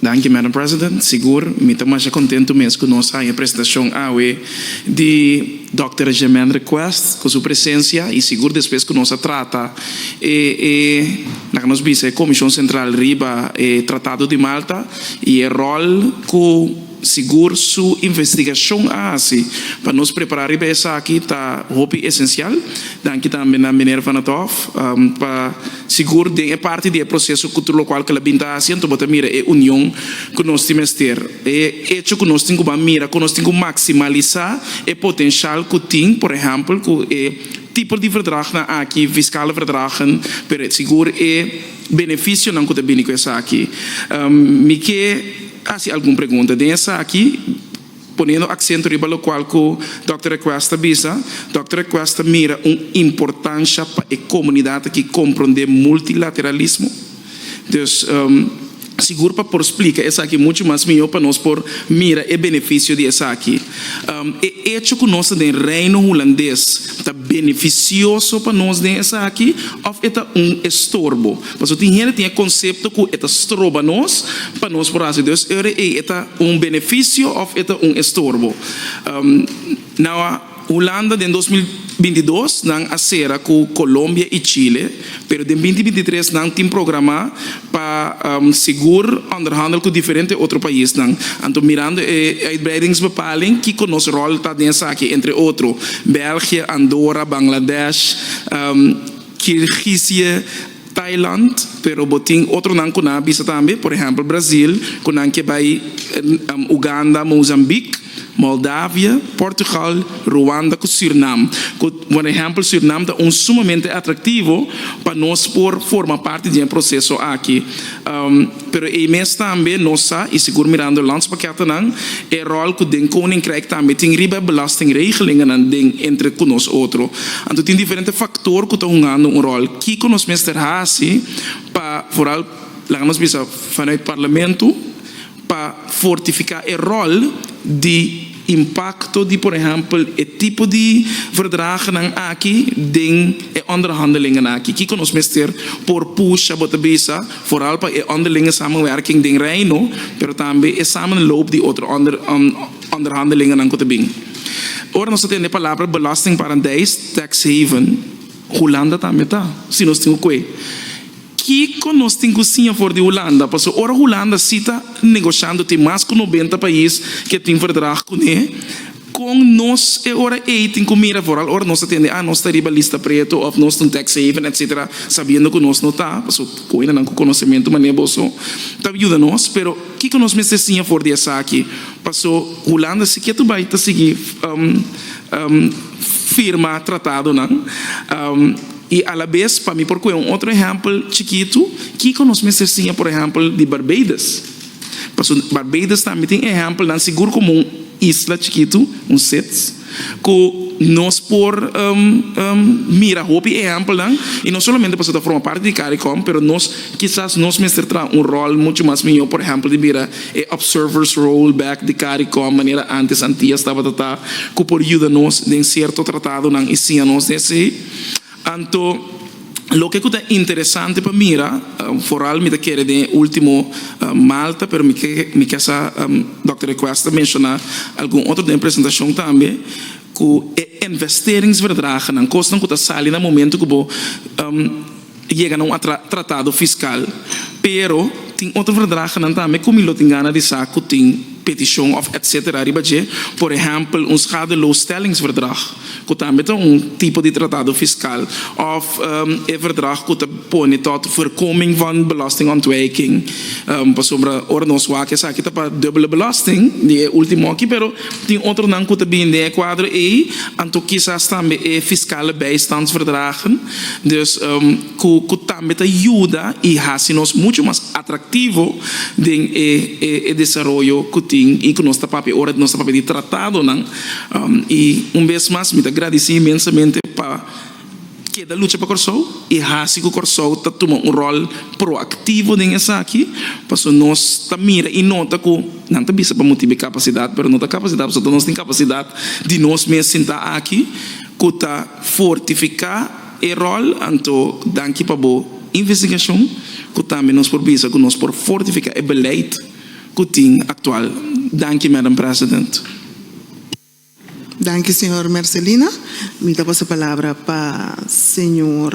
Danki Madam President, sigur mi ta masha kontentu mes ku nos haña presentashon awe di Dòkter Germendra Quest ku su presensia i sigur despues ku nos a trata e e laga nos bisa e Komishon Sentral riba e Tratado di Malta i e ròl ku Sigur su investigacion a haci pa nos prepara riba esaki ta hopi esencial. Danki tambe na Meneer Van 't Hof pa sigur den e parti di e proceso cu tur locual cu el a bin ta haci anto bo ta mira e union cu nos tin mester. E hecho cu nos tin cu ban mira con nos tin cu maximalisa e potencial cu tin por ehempel cu e tipo di verdragnan aki, fiscale verdragen, pero sigur e. beneficionan cu ta bini cu esaki. Mi ke haci algun pregunta den esaki, poniendo acento riba locual cu Dòkter Request a bisa, Dòkter Request ta mira un importancia pa e comunidad aki comprende multilateralismo. Dus. sigur pa por splika esaki muchu mas mihó pa nos por mira e benefisio di esaki. E echo ku nos ta den Reino Hulandes ta benefisioso pa nos den esaki òf e ta un estorbo? Pasobra tin hende tin e konsepto ku e ta stroba nos pa nos por hasi dos ure ei e ta un benefisio òf e ta un estorbo. Nau a. Hulanda den dos mil binti dos nan a sera ku Kolombia i Chile, pero den binti binti tres nan tin programá pa sigur onderhandel ku diferente otro paisnan. Anto mirando e uitbreidingsbepaling kiko nos ròl ta den esaki, entre otro, België, Andora, Bangladesh, Kirgizië, Thailand, pero bo tin otronan ku nan a bisa tambe, por ehèmpel Brazil, ku nan ke bai Uganda, Mozambik, Moldavia, Portugal, Ruanda ku Sürnam. Ku por ehèmpel Sürnam ta un sumamente atraktivo pa nos por forma parti di e proseso aki. Pero ei mes tambe nos sa, i sigur mirando e landspakketennan, e ròl ku den Koninkrijk tambe tin riba e belastingregelingennan den entre ku nos otro. Anto tin diferente faktor ku ta hungando un ròl. Kiko nos mester hasi pa foral, laga nos bisa, fanuit parlamentu, pa fortifiká e ròl di impakto di por ehèmpel e tipo di verdragnan aki den e onderhandelinge aki. Kiko nos mester por pusha bo ta bisa foral pa e onderlinge samenwerking den Reino pero tambe e samenloop di otro onderhandelingenan ku ta bin? Ora nos ta tende palabra belastingparadijs, tax haven, Hulanda tambe ta, si nos tin okoe. Kiko nos tin ku siña for di Hulanda? Pasobra ora Hulanda si ta negoshiando tin mas ku nobenta pais ke tin verdrag kuné, kon nos e ora ei tin ku mira foral ora nos ta tende a nos ta riba lista preto òf nos ta un tax haven etsetera sabiendo ku nos no ta? Paso koina nan ku konosementu manera boso ta yuda nos pero kiko nos mester siña for di esaki paso Hulanda si ke ta bai ta sigui firma tratadonan. I alabes, pa mi por kohe un otro ehèmpel chikitu, kiko nos mester siña por ehèmpel di Barbados? Pasobra Barbados tambe tin ehèmpelnan, sigur komo un isla chikitu, un sits, ku nos por mira hopi ehèmpelnan, i no solamente pasobra ta forma parti di Caricom, pero nos kisas nos mester traha un ròl muchu mas mihó, por ehèmpel di mira e observers role back di Caricom, manera ántes Antias tabata ta, ku por yuda nos den sierto tratadonan i siña nos den esei. Anto, loke ku ta interesante pa mira, foral mi ta kere den e último Malta, pero mi ke mi ke sa Dòkter Request ta menshoná algun otro den e presentashon tambe, ku e investeringsverdragenan, kosnan ku ta sali na momentu ku bo. Yega na un atra tratado fiskal, pero tin otro verdragenan tambe ku mi lo tin gana di sa ku tin petishon òf etsetera riba dje, por ehèmpel un schadeloosstellingsverdrag ku tambe ta un tipo di tratado fiskal òf e verdrag ku ta pone tòt voorkoming van belastingontwijking pasobra ora nos wak esaki ta pa dubbele belasting di e último aki pero tin otronan ku ta bini den e kuadro ei anto kisas tambe e fiskale bijstandsverdragen. Dios ku tambe ta yuda i hasi nos muchu mas atraktivo den e desaroyo ku tin i ku nos ta papia ora nos ta papia di tratadonan. I un bes mas mi ta gradisí inmensamente pa keda lucha pa Kòrsou i hasi ku Kòrsou ta tuma un ròl proaktivo den esaki, pasobra nos ta mira i nota ku nan ta bisa pa bo tin kapasidat pero no ta kapasidat pasobra nos tin kapasidat di nos mes sinta aki ku ta. fortifica e rol, anto danki pa bo investigacion cu tambe nos por bisa cu nos por fortifica e beleid cu tin actual. Danki Madam President. Danki señor Mercelina. Mi ta pasa palabra pa señor.